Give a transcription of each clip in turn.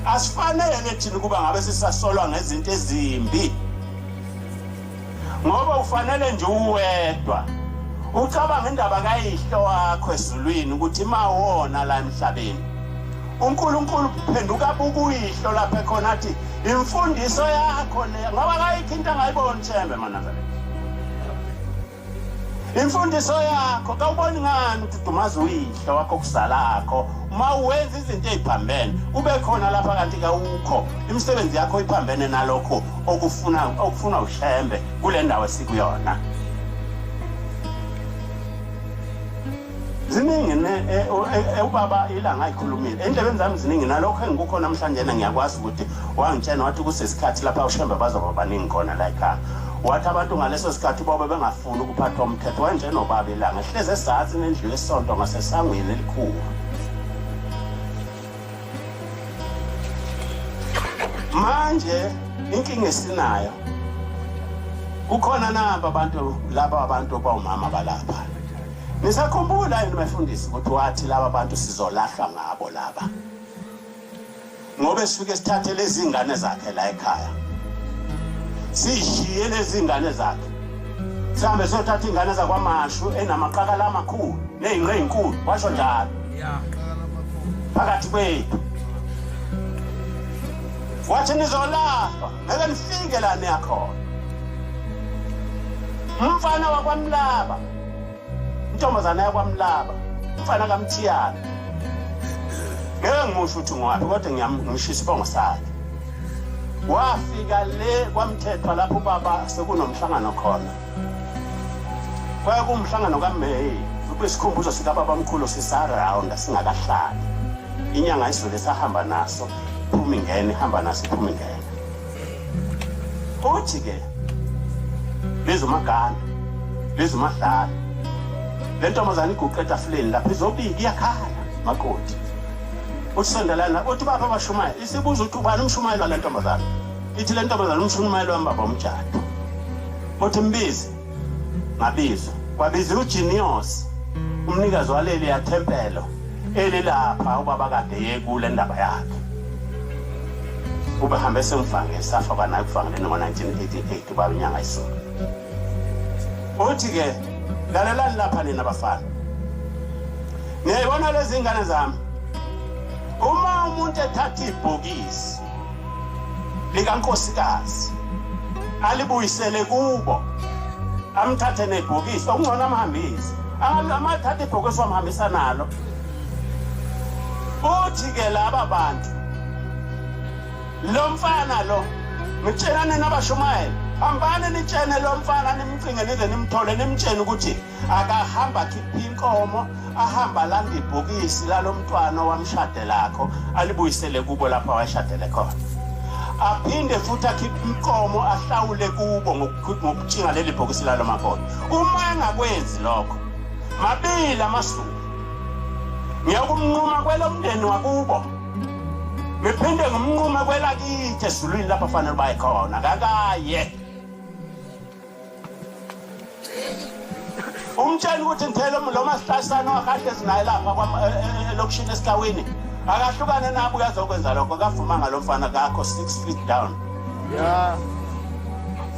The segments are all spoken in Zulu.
Asifanele thina ukuba ngabe sisasolwa ngezinto ezimbi. Ngoba ufanele nje uwedwa. Ucabanga indaba kayihlo wakho ezulwini ukuthi mawona la emhlabeni. uNkulunkulu kuphenduka bukuyihlo lapha ekhona athi imfundiso yakho le ngoba kayikho into angayiboni thembe manazareth imfundiso yakho kawuboni ngani ukuthi dumaza uyihla wakho kuzalakho uma wenza izinto eziphambene ube khona lapha kanti kawukho imisebenzi yakho iphambene nalokho okufuna okufuna ushembe kule ndawo esikuyona ziningi e, e, ubaba ilanga ayikhulumile endlebeni zami ziningi nalokho engikukho namhlanje na ngiyakwazi ukuthi wangitshena wathi kusesikhathi lapha ushembe bazoba baningi khona la ekhaya wathi abantu ngaleso sikhathi bobe bengafuni ukuphathwa umthetho wanjenobaba ilanga ehlezi esazini endlu yesonto ngasesangweni elikhulu manje inkinga esinayo kukhona nabo abantu laba abantu bawumama balapha nisakhumbula yini bafundisi ukuthi wathi laba bantu sizolahlwa ngabo laba ngoba sifike sithathe lezi ngane zakhe la ekhaya sishiye lezi ngane zakhe sihambe siyothatha iy'ngane zakwamashu enamaqakala amakhulu ney'nqe ey'nkulu washo njalo phakathi kwethu wathi nizolahlwa ngeke nifike la niyakhona umfana wakwamlaba intombazana yakwamlaba umfana kamthiyana ngeke ngimusho ukuthi ngowaphi kodwa ngiyamshisa isibongo sakhe wafika le kwamthethwa lapho ubaba sekunomhlangano khona Kwaya kumhlangano kaMay ubesikhumbuzo sikababamkhulu sisarawunda singakahlali. Inyanga isivele sahamba naso phumi ngene hamba naso phumi ngene. Uthi ke lezomagana lezomahlala le ntombazane iguqe etafuleni lapha izobika iyakhala makoti uthi sondelana uthi bapha abashumayela isibuza ukuthi ubani umshumayeli wale ntombazane ithi le ntombazana umshuni umayelo wami baba umjado othi mbizi ngabizwa kwabiziwa ujinios umnikazi waleli yathempelo elilapha ubaba kade yekule ndaba yakhe ubehambe semfange safa kwanaye kufangeleni ngo-1988 ubaba inyanga isulu uthi-ke lalelani lapha nina bafana niyayibona lezi ngane zami uma umuntu ethatha ibhokisi likankosikazi alibuyisele kubo amthathe nebhokisi okungcono amhambise amathatha ibhokisi wamhambisa nalo futhi-ke laba bantu lo mfana lo ngitshelane nabashumayela hambani nitshene lo mfana nimcinge nize nimthole nimtshene ukuthi akahamba khipha inkomo ahamba landa ibhokisi lalomntwana wamshade lakho alibuyisele kubo lapho awashadele khona aphinde futhi akhiphe inkomo ahlawule kubo ngokutshinga leli bhokisi lalo makoti uma engakwenzi lokho mabili amasuku ngiyakumnquma kwelomndeni wakubo ngiphinde ngimnqume kwelakithi ezulwini lapho fanele baye khona kakaye umtshela ukuthi ngithele lo masihlahisane wakahle sinaye lapha eh, eh, elokishini esikawini akahlukane nabo uyazokwenza lokho kavuma ngalo mfana kakho six feet down ya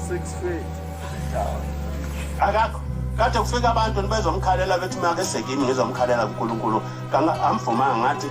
six feet akakho kade kufika abantu nibezomkhalela bethi uma ke sekini ngizomkhalela kunkulunkulu amvumanga ngathi